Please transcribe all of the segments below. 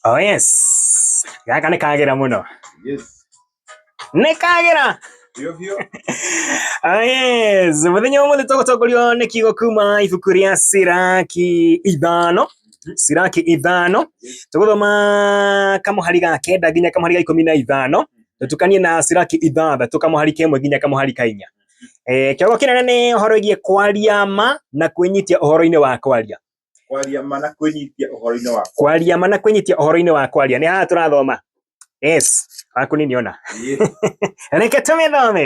Oh yes. Gaka nĩ kagĩra mũno. Yes. Nĩ kagĩra. Biũ biũ. Oh yes. Mũthenya ũmũthĩ tũgũtongorio nĩ kiugo kuma ibuku rĩa Siraki ithano. Siraki ithano. Tũgũthoma kamũhari ga kenda nginya kamũhari ga ikũmi na ithano. Tũtukanie na Siraki ithathatũ kamũhari ka ĩmwe nginya kamũhari ka inya. Eh, kĩongo kĩnene nĩ ũhoro wĩgiĩ kwaria ma na kwĩnyitia ũhoro-inĩ wa kwaria. Kwaria ma na kwĩnyitia ũhoro-inĩ wa kwaria ma na kwĩnyitia ũhoro-inĩ wa kwaria nĩ haha tũrathoma yes waku nini ona reke tũmĩthome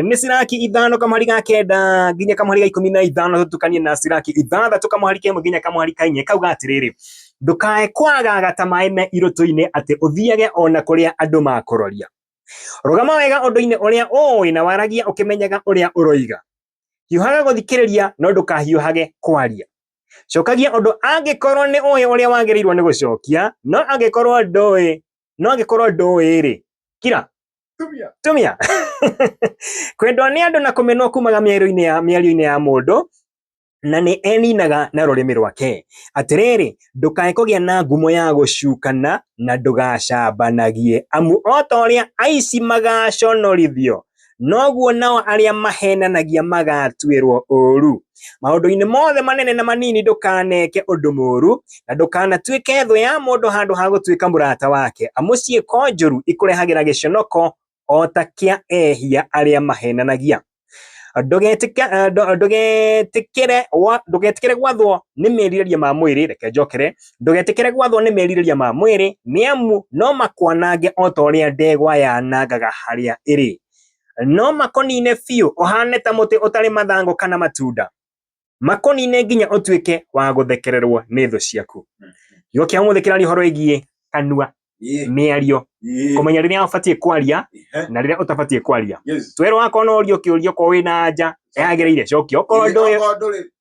nĩ ciraki ithano kamũhari ga kenda nginya kamũhari ga ikũmi na ithano tũtukanie na ciraki ithathatũ kamũhari ka ĩmwe nginya kamũhari ka inya kauga atĩrĩrĩ ndũkae kwagaga ta maĩ me irũtũ-inĩ atĩ ũthiage ona kũrĩa andũ makũroria rũgama wega ũndũ-inĩ ũrĩa ũĩ na waragia ũkĩmenyaga ũrĩa ũroiga hiũhaga gũthikĩrĩria no ndũkahiũhage kwaria cokagia ũndũ angĩkorwo nĩ ũĩ ũrĩa wagĩrĩirwo nĩ gũcokia no angĩkorwo ndũĩ no angĩkorwo ndũĩ-rĩ kira Tumia. tumia kwendwo nĩ andũ na kũmenwo kumaga mĩario-inĩ ya mĩario-inĩ ya mũndũ na nĩ eninaga na rũrĩmĩ rwake atĩrĩrĩ ndũkae kũgĩa na ngumo ya gũcukana na ndũgacambanagie amu o ta ũrĩa aici magaconorithio noguo nao arĩa mahenanagia magatuĩrwo ũũru. Maũndũ-inĩ mothe manene na manini ndũkaneke ũndũ mũũru, na ndũkanatuĩke thũ ya mũndũ handũ ha gũtuĩka mũrata wake, amu ciĩko njũru ikũrehagĩra gĩconoko o ta kĩa ehia arĩa mahenanagia. Ndũgetĩka- eh, ndũ- ndũgetĩkĩre gwa- ndũgetĩkĩre gwathwo nĩ merirĩria ma mwĩrĩ, reke njokere, ndũgetĩkĩre gwathwo nĩ merirĩria ma mwĩrĩ, nĩ amu no makwanange o ta ũrĩa ndegwa yanangaga harĩa ĩrĩ. No makonine biũ ũhane ta mũtĩ ũtarĩ mathangũ kana matunda, makonine nginya ũtuĩke wa gũthekererwo nĩ thũ ciaku. Kiugo kĩa ũmũthĩ kĩraria ũhoro wĩgiĩ kanua, Ĩĩ, mĩario, ĩĩ, kũmenya rĩrĩa ũbatiĩ kwaria ĩhĩ, na rĩrĩa ũtabatiĩ kwaria. yes. Twerwo akorwo no ũrio kĩũrio, korwo wĩna anja yagĩrĩire cokio, okorwo Ĩĩ, ndũĩ okorwo ndũrĩ-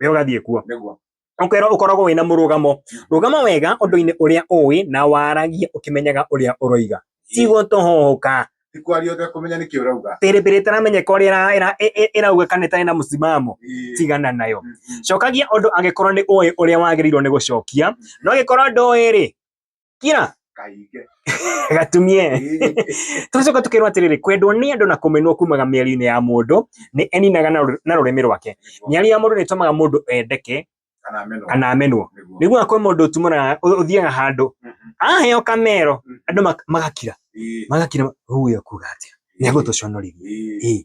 we ũgathiĩ kuo nĩguo ũkerwo ũkoragwo wĩna mũrũgamo rũgama wega ũndũ-inĩ ũrĩa ũĩ na waragie ũkĩmenyaga ũrĩa ũroiga tigũtũhũka ti kwaria ũtekũmenya nĩkĩ ũrauga pĩrĩpĩrĩ ĩtaramenyeka ũrĩa ĩra- ĩra- ĩ- ĩ- ĩrauga kana ĩtarĩ na mũsimamo Ĩĩ. tigana nayo Mm, mm. cokagia ũndũ angĩkorwo nĩ ũĩ ũrĩa wagĩrĩirwo nĩ gũcokia no angĩkorwo ndũĩ-rĩ kira kaige gatumie Ĩĩ. tũgacoka tũkerwo atĩrĩrĩ kwendwo nĩ andũ na kũmenwo kumaga mĩario-inĩ ya mũndũ nĩ eninaga na rũ- na rũrĩmĩ rwake mĩario ya mũndũ nĩ ĩtũmaga mũndũ endeke kana meno kana amenwo nĩguo nĩguo akwĩ mũndũ ũtumũraga ũ- ũthiaga handũ Mhm. aheo kamero Mhm. andũ mak- magakira Ĩĩ. magakira huyo kuga atĩa nĩ agũtũconorithia Ĩĩ. Ĩĩ.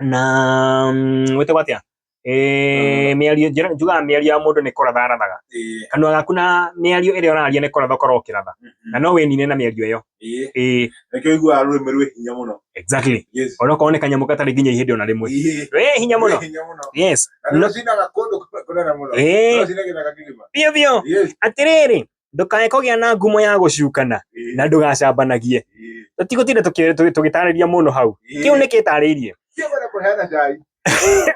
na gwĩtagwo atĩa Eh, mĩario njĩra- njugaga mĩario ya mũndũ nĩ kũratha arathaga Eh, kanua gaku na mĩario ĩrĩa ũraria nĩ kũratha ũkorwo ũkĩratha mhm. na no wĩnine na mĩario ĩyo Eh, Eh, nĩkĩo iguaga rũrĩmĩ rwĩ hinya mũno exactly Yes. onokorwo nĩ kanyamũ gatarĩ nginya ihĩndĩ ona rĩmwe Eh, wĩ hinya mũno rwĩ hinya mũno yes Na nĩrũcinaga kũndũ kũnene mũno Eh. Rũcinaga gĩthaka kĩgima biũ biũ Yes. atĩrĩrĩ ndũkae kũgĩa na ngumo ya gũcukana Ĩĩ. na ndũgacambanagie Ĩĩ. tũtigũtinda tũkĩ- tũgĩ- tũgĩtarĩria mũno hau Ĩĩ. kĩu nĩ kĩtarĩirie Kĩu wenda kũheana cai.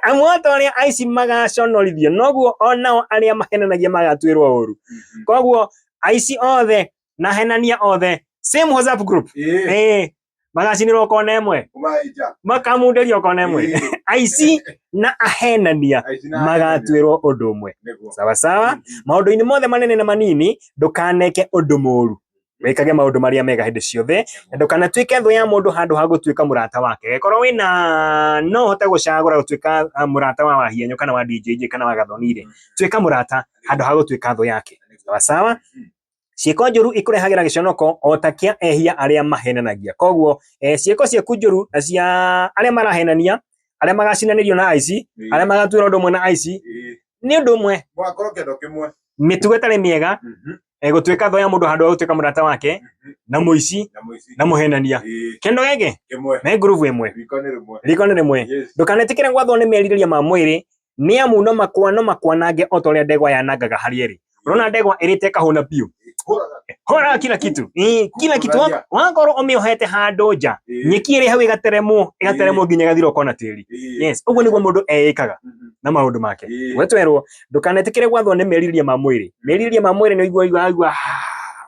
amu o ta ũrĩa aici magaconorithio noguo o nao arĩa mahenanagia magatuĩrwo ũũru koguo aici othe na henania othe same WhatsApp group Ĩĩ. eh magacinirwo kona ĩmwe makamundĩrio kona ĩmwe aici na ahenania magatuĩrwo ũndũ ũmwe sawasawa maũndũ-inĩ mothe manene na manini ndũkaneke ũndũ mũru wikage maundu maria mega hindi ciothe na ndukanatuike thu ya mundu handu ha gutuika murata wake korwo wina no hote gucagura gutuika ah, murata wa wahianyo kana wa DJJ kana wa gathonire tuika murata handu ha gutuika thu yake sawa sawa ciĩko njũru ikũrehagĩra gĩconoko o ta kĩa ehia arĩa mahenanagia koguo eh, ciĩko ciaku njũru na cia arĩa marahenania arĩa magacinanĩrio na aici Eh. arĩa magatuĩra ũndũ ũmwe na aici Eh, nĩ ũndũ ũmwe mwakorwo kĩndũ kĩmwe mĩtugo ĩtarĩ mĩega Mhm, eh, gũtuĩka thũ ya mũndũ handũ ha gũtuĩka mũrata wake mhm. na mũici na mũici na mũhenania Eh, kĩndũ gĩkĩ kĩmwe me ngurubu ĩmwe riko nĩ rĩmwe riko nĩ rĩmwe Yes. ndũkanetĩkĩre gwathwo nĩ merirĩria ma mwĩrĩ nĩ amu no makwa no makwanange o ta ũrĩa ndegwa yanangaga harĩa ĩrĩ ũrona ndegwa ĩrĩte kahũna biũ horaga kila kitu Ĩ, kila kitu Wa- wakorwo ũmĩohete handũ nja nyeki ĩrĩ hau ĩgateremwo ĩgateremwo nginya ĩgathira ũkona tĩri yes ũguo nĩguo mũndũ eĩkaga na maũndũ make Ĩĩ. we twerwo ndũkanetĩkĩre gwathwo nĩ merirĩria ma mwĩrĩ merirĩria ma mwĩrĩ nĩ ũigua ũigua ũigua, "Ah,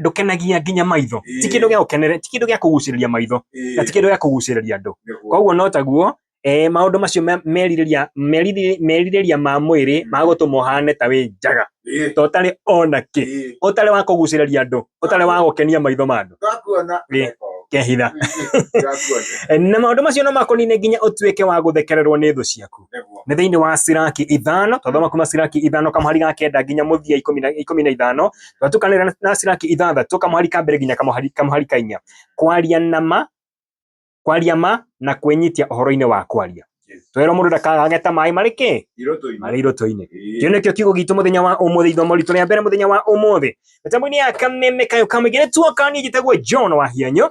ndũkenagia nginya maitho ti kĩndũ gĩa gũkeneria ti kĩndũ gĩa kũgucĩrĩria maitho na ti kĩndũ gĩa kũgucĩrĩria andũ koguo no taguo eh, maũndũ macio merirĩria merirĩria ma mwĩrĩ ma gũtũma ũhane ta wĩ njaga to ũtarĩ ona kĩ ũtarĩ wa kũgucĩrĩria andũ ũtarĩ wa gũkenia maitho ma andũ kehitha eh, na maũndũ macio no makũnine nginya ũtuĩke wa gũthekererwo nĩ thũ ciaku nä thä inä wa ciraki ithano twathoma kuma ciraki ithano kamuhari ga kenda nginya må thia ikå mi na ithano twatukanä ra na ciraki ithathatå kamuhari ka mbere nginya kamuhari kamuhari ka inya kwaria na ma kwaria ma na kwĩnyitia ũhoro-inĩ wa kwaria twerwo mũndũ ndakagage ta maĩ marĩ kĩ marĩ irũtũ-inĩ kĩu nĩkĩo kiugo gitũ mũthenya wa ũmũthĩ ithomo ritũ rĩa mbere mũthenya wa ũmũthĩ mĩtambo-inĩ ya kameme kayo kamũingĩ nĩ tuoka niĩ njĩtagwo john wa hianyo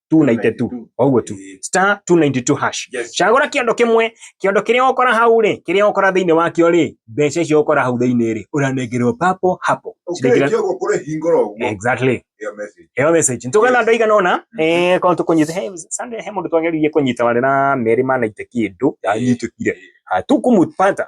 292 o guo tu Ĩĩ. star 292 hash Yes. cagũra kĩondo kĩmwe kĩondo kĩrĩa ũkora hau rĩ kĩrĩa ũkora thĩinĩ wakĩo rĩ mbeca icio ũkora hau thĩinĩ rĩ ũranengerwo papo hapo Ciringi- Ũkĩrĩkia ũguo kũrĩ hingũra ũguo. exactly Ĩyo message. ĩyo message nĩ tũgana Yes. andũ aigana ũna eh, korwo tũkũnyita he Sunday he mũndũ twageririe kũnyita warĩ na merĩ ma naite kĩndũ ndanyitĩkire Ah, tukumupata